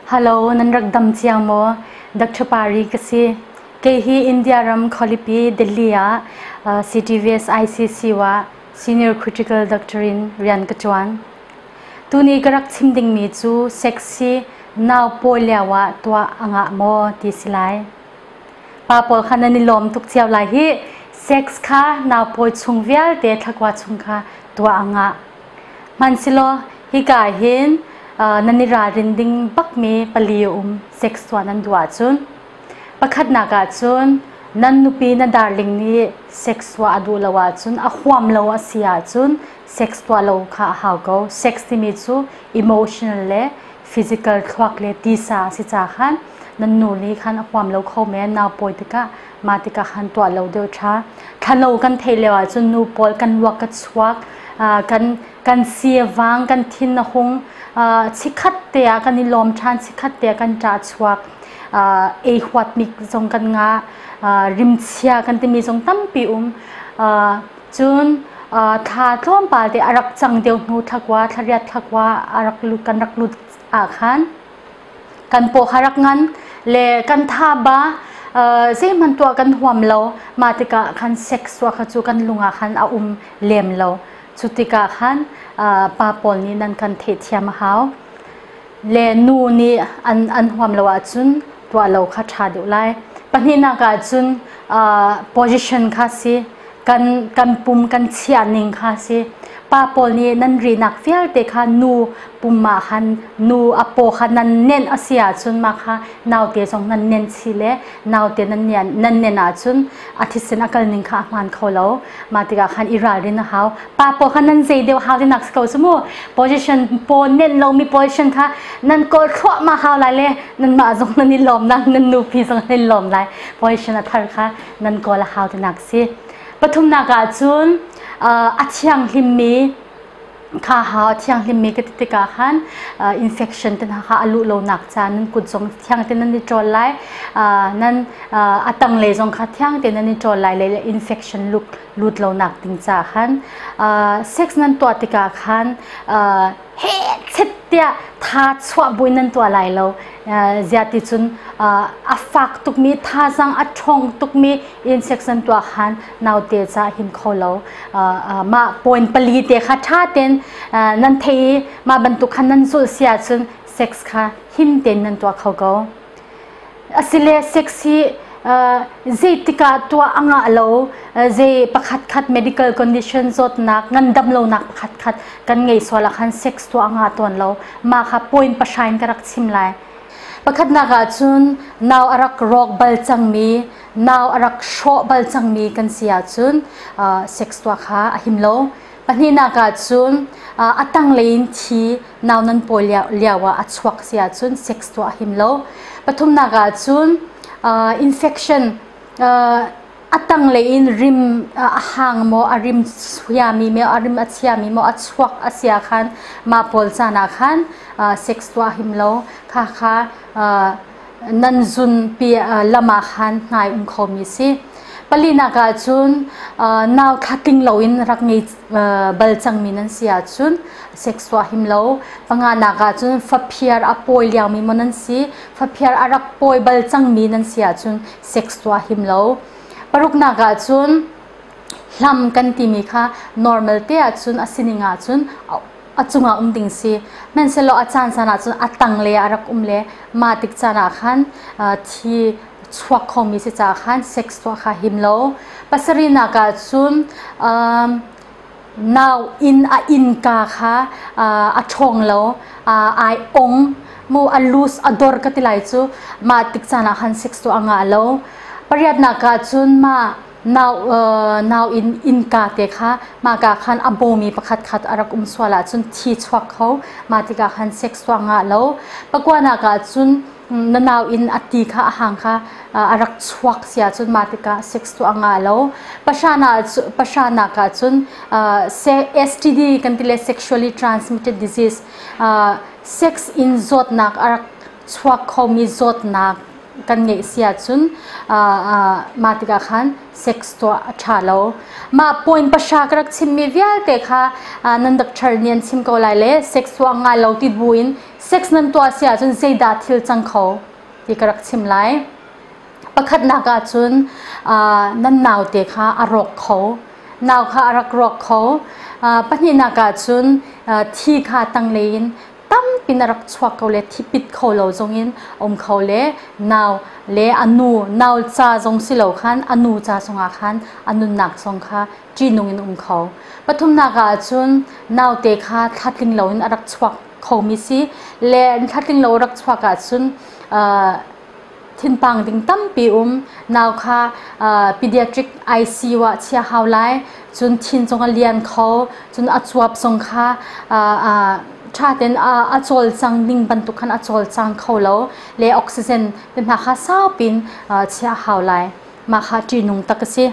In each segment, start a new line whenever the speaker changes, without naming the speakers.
Halo, nan rak dam cia maw? Dr. Pari ka si. Kei hi India ram Khawlipi, Delhi ah CTVS ICC ah Senior Critical Doctor in rian ka ṭuan. Tuni ka rak chim dingmi cu sexy nau pawi lio ah tuah a ngah maw ti si lai. Pa pawl kha nan i lawm tuk cio lai hi. Sex kha nau pawi chung vialte thlakua chung kha tuah a ngah. Hmansilaw hika hin nan i ralrin ding bakmi pali a um sex tuah nan duh ahcun. Pakhatnak ahcun nan nupi na darling nih sex tuah a duh lo ahcun a huam lo a si ahcun sex tuah lo kha a hau ko. Sex timi cu emotional le physical thluak le tisa a si caah khan nan nu nih khan a huam lo kho men. Nau pawi tikah mah tikah khan tuah lo deuh ṭha thlano kan theih lio ahcun nu pawl kan ruak ka chuak kan kan siavang kan thin a hung chikhat te ah kan i lawm ṭhan chikhat te ah kan ṭah chuak ei huatmi zong kan ngah rimchia kan timi zong tampi um cun thla tlawmpal te a rak cang deuh hnu thlakua thlariat thlakua a rak lut kan rak lut ah khan kan paw harak ngan le kan thaba zeihman tuah kan huam lo ma tikah khan sex wa kha chu kan lungah khan a um lem lo cu tikah khan pa pawl nih nan kan theih thiam a hau le nu nih an an huam lo ahcun tuah lo kha ṭha deuh lai pahnihnak ah cun position kha si kan kan pum kan chiah ning kha si pa paul nih nan rinak vialte kha nu pum ma han nu a paw kha nan nen a si ahcun ma kha naute zong nan nen chi le naute nan nan nen ahcun a thisen a kal ning kha a hman kho lo ma tikah khan i ralrin a hau pa paw kha nan zei deu hau rinak si ko cu mu position paw nen lomi position kha nan kol thluahma hau lai le nan mah zong nan i lawm na nan nupi zong nan i lawm lai position a thar kha nan kawl a hau tinak si pathumnak ah cun a thianghlimmi kha ha thianghlimmi ka ti tikah khan infection te hna kha a luh lonak caan nan kut zong thiang te nan i ṭawl lai nan a tanglei zong kha thiang te nan i ṭawl lai le infection lut lut lonak ding caah khan sex nan tuah tikah khan hechet tiah tha chuah buin nan tua lai lo ziati cun a fak tukmi thazang a ṭhawng tukmi inspection tua khan naute ca him kho lo mah point pali te kha ṭha ten nan thei i mah bantuk khan nan zulh si ahcun sex kha him ten nan tua kho ko a si le sexy zeitik ah tuah a ngah lo zei pakhatkhat medical condition zawtnak ngandam lonak pakhatkhat kan ngei sual ah khan sex tuah a ngah tawn lo mah kha point pashain ka rak chim lai pakhatnak ah cun nau a rak rawk bal cangmi nau a rak hrawh bal cangmi kan si ahcun sex tuah kha a him lo pahnihnak ah cun a tanglei in thi nau nan pawi lio ah a chuak si ahcun sex tuah him lo pathumnak ahcun infection a tanglei in rim a hang maw a rim suiami maw a rim a chiami maw a chuak a sia khan ma pawl caan ah khan sex tuah him lo kha kha nan zunpi lam ah khan hnai um khomi si palinak ah cun nau thla tling loin rak ngei bal cangmi nan si ahcun sex tuah him lo panganak ah cun faphir a pawi liangmi maw nan si faphir a rak pawi bal cangmi nan si ahcun sex tuah him lo paruknak ah cun hlam kan timi kha normal te ahcun a sining ahcun a cungah um ding si hmanhsehlaw a caan san ahcun a tangle ah a rak um le mah tik caan ah khan thi chuak khomi si caah khan sex tuah kha him lo pasarihnak ah cun nau inn a innka kha a ṭhawng lo ai ong mu a lus a dor ka ti lai cu mah tik caan ah khan sex tuah a ngah lo pariatnak ah cun mah nau in innka te kha mahka khan a bawmi pakhat khat a rak um sual ahcun thi chuak kho mah tikah khan sex tuah ngah lo pakuanak ahcun na nau in a ti kha a hang kha a rak chuak si ahcun mah tikah sex tuah nga lo pahranak ahcun STD kan ti le sexually transmitted disease sex in zawtnak a rak chuak khomi zawtnak kan ngeih si ahcun mah tikah khan sex tuah a ṭha lo. Mah point pahra ka rak chimmi vialte kha nan doctor nih an chim ko lai le sex tuah ngai lo ti buin sex nan tuah si ahcun zeidah thil cang kho ti ka rak chim lai. Pakhatnak ahcun nan naute kha a rawk kho nau kha a rak rawk kho pahnihnak ahcun thi kha tanglei in tampi na rak chuak ko le thipit kho lo zong in a um kho le nau le a nu nau ca zong si lo khan a nu ca zongah khan a nunnak zong kha ṭihnung in um kho pathumnak ah cun naute kha thlatling lo in a rak chuak khomi si le thlatling lo rak chuak ahcun uh, Thinphang ding tampi um. Nau kha pediatric ICU ah chia hau lai. Cun thin zong a lian kho. Cun a cuap zong kha ṭha tein a cawlcang ning bantuk khan a cawlcang kho lo le oxygen te hna kha saupi in chia hau lai. Mah kha ṭihnung tak a si.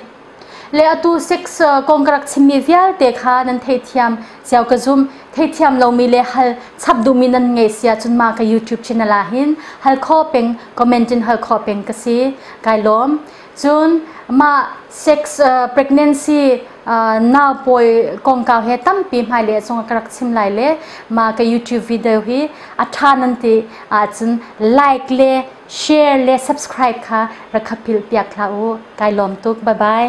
le atu sex kong ka rak chimmi vialte kha nan theithiam cio ka zum theithiam lomi le hal chap duhmi nan ngei sia cun ma ka YouTube channel ah hin hal kho peng comment in hal kho peng ka si kai lawm cun ma sex pregnancy na poi kongkau he tampi hmai le sung ka rak chim lai le ma ka YouTube video hi a tha nan ti ahcun like le Share le subscribe kha rak hapilh piak hlah u. Kai lawm tuk. Bye bye.